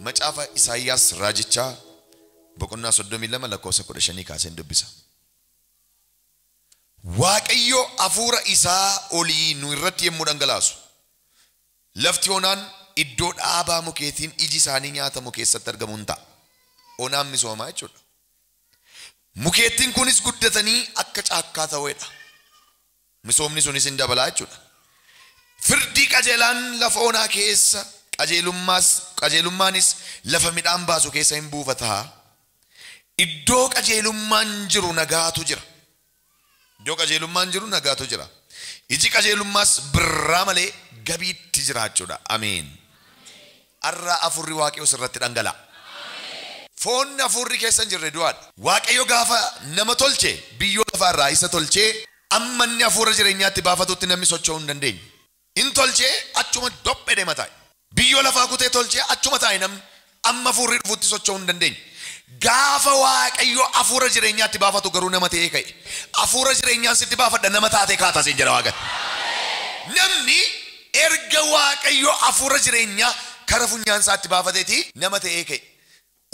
Macaafa Isaayyaas raajichaa boqonnaa 32 lakkoofsa 15 kaaseen dubbisa. Waaqayyo hafuura isaa olii nu irratti yommuu dhangalaasu, lafti onaan iddoo dhaabaa mukeetiin iji isaanii nyaatamu keessatti argamu in ta'a. Onaan misoomaa jechuudha. Mukeettiin kunis guddatanii akka caakkaa ta'uedha. Misoomni sunis in dabala jechuudha. Firdii qajeelaan lafa onaa keessa, qajeelummaas, qajeelummaanis lafa midhaan baasu keessa in buufata. Iddoo qajeelummaan jiru nagaatu jira. Iddoo qajeelummaan jiru nagaatu jira. Iji qajeelummaas birraa malee gabiitti jiraachuudha. Ameen. Arraa Afuurri Waaqayyoo sirratti dhangala'a. Foonni Afuurri keessa hin jirre du'aadha. Waaqayyo gaafa nama tolche biyyoo lafaa irraa isa tolchee amma inni Afuura jireenyaatti baafatutti namni socho'uu hin dandeenye. Hin tolche achuma dophe dema taa'e. Biyyoo lafaa kutee tolche achuma taa'e namni. Amma afuurri dhufutti socho'uu hin dandeenye. Gaafa Waaqayyo afuura jireenyaa itti baafatu garuu nama ta'ee ka'e. Afuura jireenyaan sitti baafadha nama taatee kaata siin jedha Waaqayyo. Namni erga Waaqayyo afuura jireenyaa kara funyaan isaatti baafateeti nama ta'ee ka'e.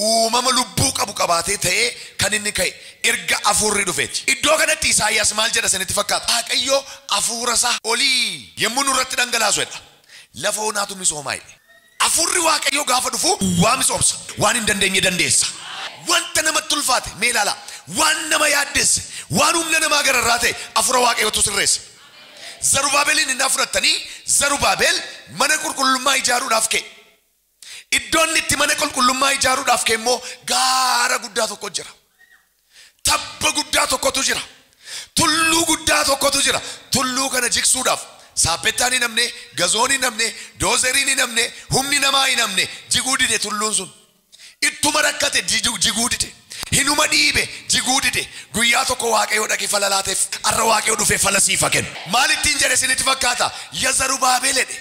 uumama lubbuu qabu qabaatee ta'ee kan inni ka'e erga Hafuurri dhufeeti. Iddoo kanatti Isaayyaas maal jedha isinitti fakkaata? Waaqayyo Hafuurasaa olii yommuu nurratti dhangalaasu jedha, lafa onaatu misooma jedhe. Hafuurri Waaqayyoo gaafa dhufu duwwaa misoomsa, waan hin dandeenye dandeessa. Wanta namatti ulfaate mee ilaalaa. Waan nama yaaddesse, waan humna namaa gararraa ta'e Hafuura Waaqayyootu sirreessa. Zarubaabeliin innaa fudhattanii Zarubaabel mana qulqullummaa ijaaruudhaaf ka'e. Iddoo inni itti mana qulqullummaa ijaaruudhaaf ka'e immoo gaara guddaa tokko jira. Tabba guddaa tokkotu jira. Tulluu guddaa tokkotu jira. Tulluu kana jigsuudhaaf saappettaan hin hafne, gazoon hin hafne, doozeriin hin hafne, humni namaa hin hafne jiguu dide tulluun sun. Ittuma rakkate jiju- jiguu dide. Hinuma dhiibe jiguu dide. Guyyaa tokko Waaqayyo dhaqee fala laateef. Har'a Waaqayyo dhufee fala siif haa kennu. Maal ittiin jedhe isinitti fakkaata? Ya Zarubaabel jedhe.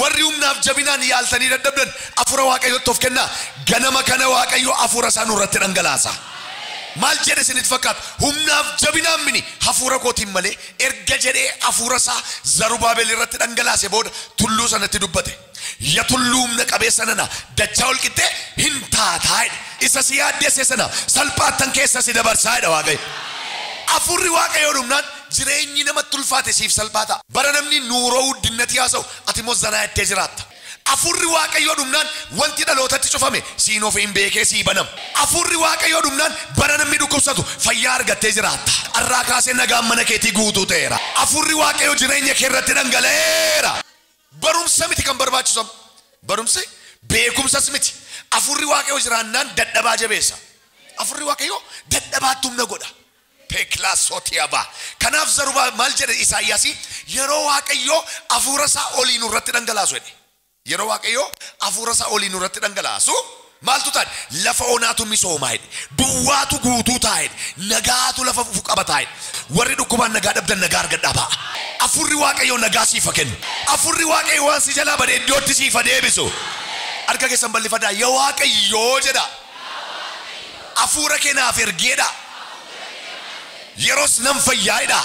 Warri humnaaf jabinaan yaaltanii dadhabdan, Afuura Waaqayyootti of kennaa. Ganama kana Waaqayyo Afuura isaa nurratti dhangalaasa. Maal jedhe isinitti fakkaata? Humnaaf jabinaan mini, Hafuura kootiin malee erga jedhee Afuura isaa Zarubaabel irratti dhangalaase booda tulluu sanatti dubbate. Ya tulluu humna qabeessa nana, dachaa ol qixxee hin taataa jedhe. Isa si yaaddesse sana salphaattan keessa si dabarsaa jedha Waaqayyo. Afuurri Waaqayyoo dhumnaan Jireenyi namatti ulfaate siif salphaa ta'a. Bara namni nuuroo wuddinnati haasa'u atimmoo zanaa jettee jiraatta. Afuurri Waaqayyoo dhumnaan wanti dhalootatti cufame siin of hin beekee sii banama. Afuurri Waaqayyoo dhumnaan bara namni dhukkubsatu fayyaa argattee jiraatta. Arraa kaasee nagaan mana keetii guutuu ta'eera. Afuurri Waaqayyoo jireenya kee irratti dhangala'eera. Barumsa miti kan barbaachisu amma. Barumsi beekumsas miti. Afuurri Waaqayyoo jiraannaan dadhabaa jabeessa. Afuurri Waaqayyoo dadhabaatti humna godha. Teeklaa Sootiyaavaa. Kanaaf Zarubaabel maal jedhe Isaayyaasii? Yeroo Waaqayyo Hafuura isaa olii nu irratti dhangalaasu jedhe. Yeroo Waaqayyo Hafuura isaa olii nu irratti dhangalaasu maaltu ta'a jedhe? Lafa onaatu misoomaa jedhe. Duwwaatu guutuu ta'a jedhe. Nagaatu lafa fufu qabataa jedhe. Warri dhukkubaan nagaa dhabdan nagaa argadhaa ba'a. Hafuurri Waaqayyoo nagaa siif ha kennu. Hafuurri Waaqayyo waan si jalaa bade iddootti siif ha deebisu. Harka keessan ballifadaa ya Waaqayyoo jedhaa. Afuura kee naaf ergi jedha. Yeros nan fayyaa jedha.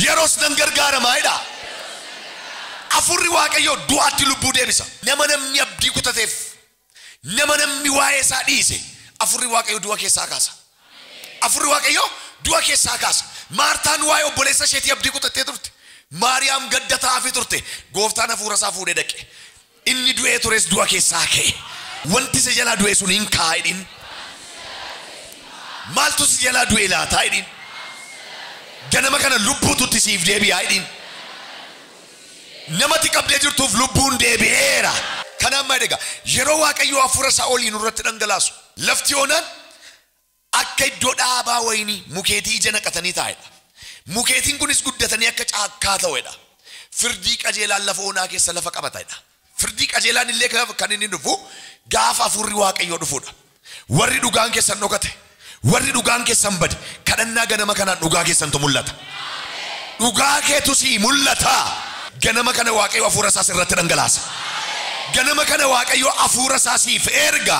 Yeros nan gargaaramaa jedha. Afuurri Waaqayyoo du'aatti lubbuu deebisa. Nama namni abdii kutateef, nama namni waa'ee isaa dhiise, Afuurri Waaqayyoo du'a keessaa kaasa. Afuurri Waaqayyoo du'a keessaa kaasa. Maartaan waa'ee obboleessa isheetii abdii kutattee turte. Maariyaam gadda taa'aafii turte. Gooftaan afuura isaa fuudhee dhaqe. Inni du'ee tures du'a keessaa ka'e. Wanti si jalaa du'e sun in ka'a jedhiin. Maaltu si jalaa du'e laataa jedhiin. Ganama kana lubbuutu itti siif deebi'aa jedhiin. Namati qabdee jirtuuf lubbuun deebi'eera. Kanaan maal egaa? Yeroo Waaqayyo hafuura isaa olii nurratti dhangalaasu lafti onaan akka iddoo dhaabaa wayinii mukeetii ija naqatanii taa'e dha, mukeetiin kunis guddatanii akka caakkaa ta'ue dha, firdii qajeelaan lafa onaa keessa lafa qabata dha, firdii qajeelaan illee kan inni dhufu gaafa Hafuurri Waaqayyoo dhufuu dha. Warri dhugaan keessan dhokate, warri dhugaan keessan bade, kadhannaa ganama kanaan dhugaa keessantu mul'ata. Dhugaa keetu sii mul'ata. Ganama kana Waaqayyo Hafuura isaa sirratti dhangalaasa. Ganama kana Waaqayyo Hafuura isaa siif erga.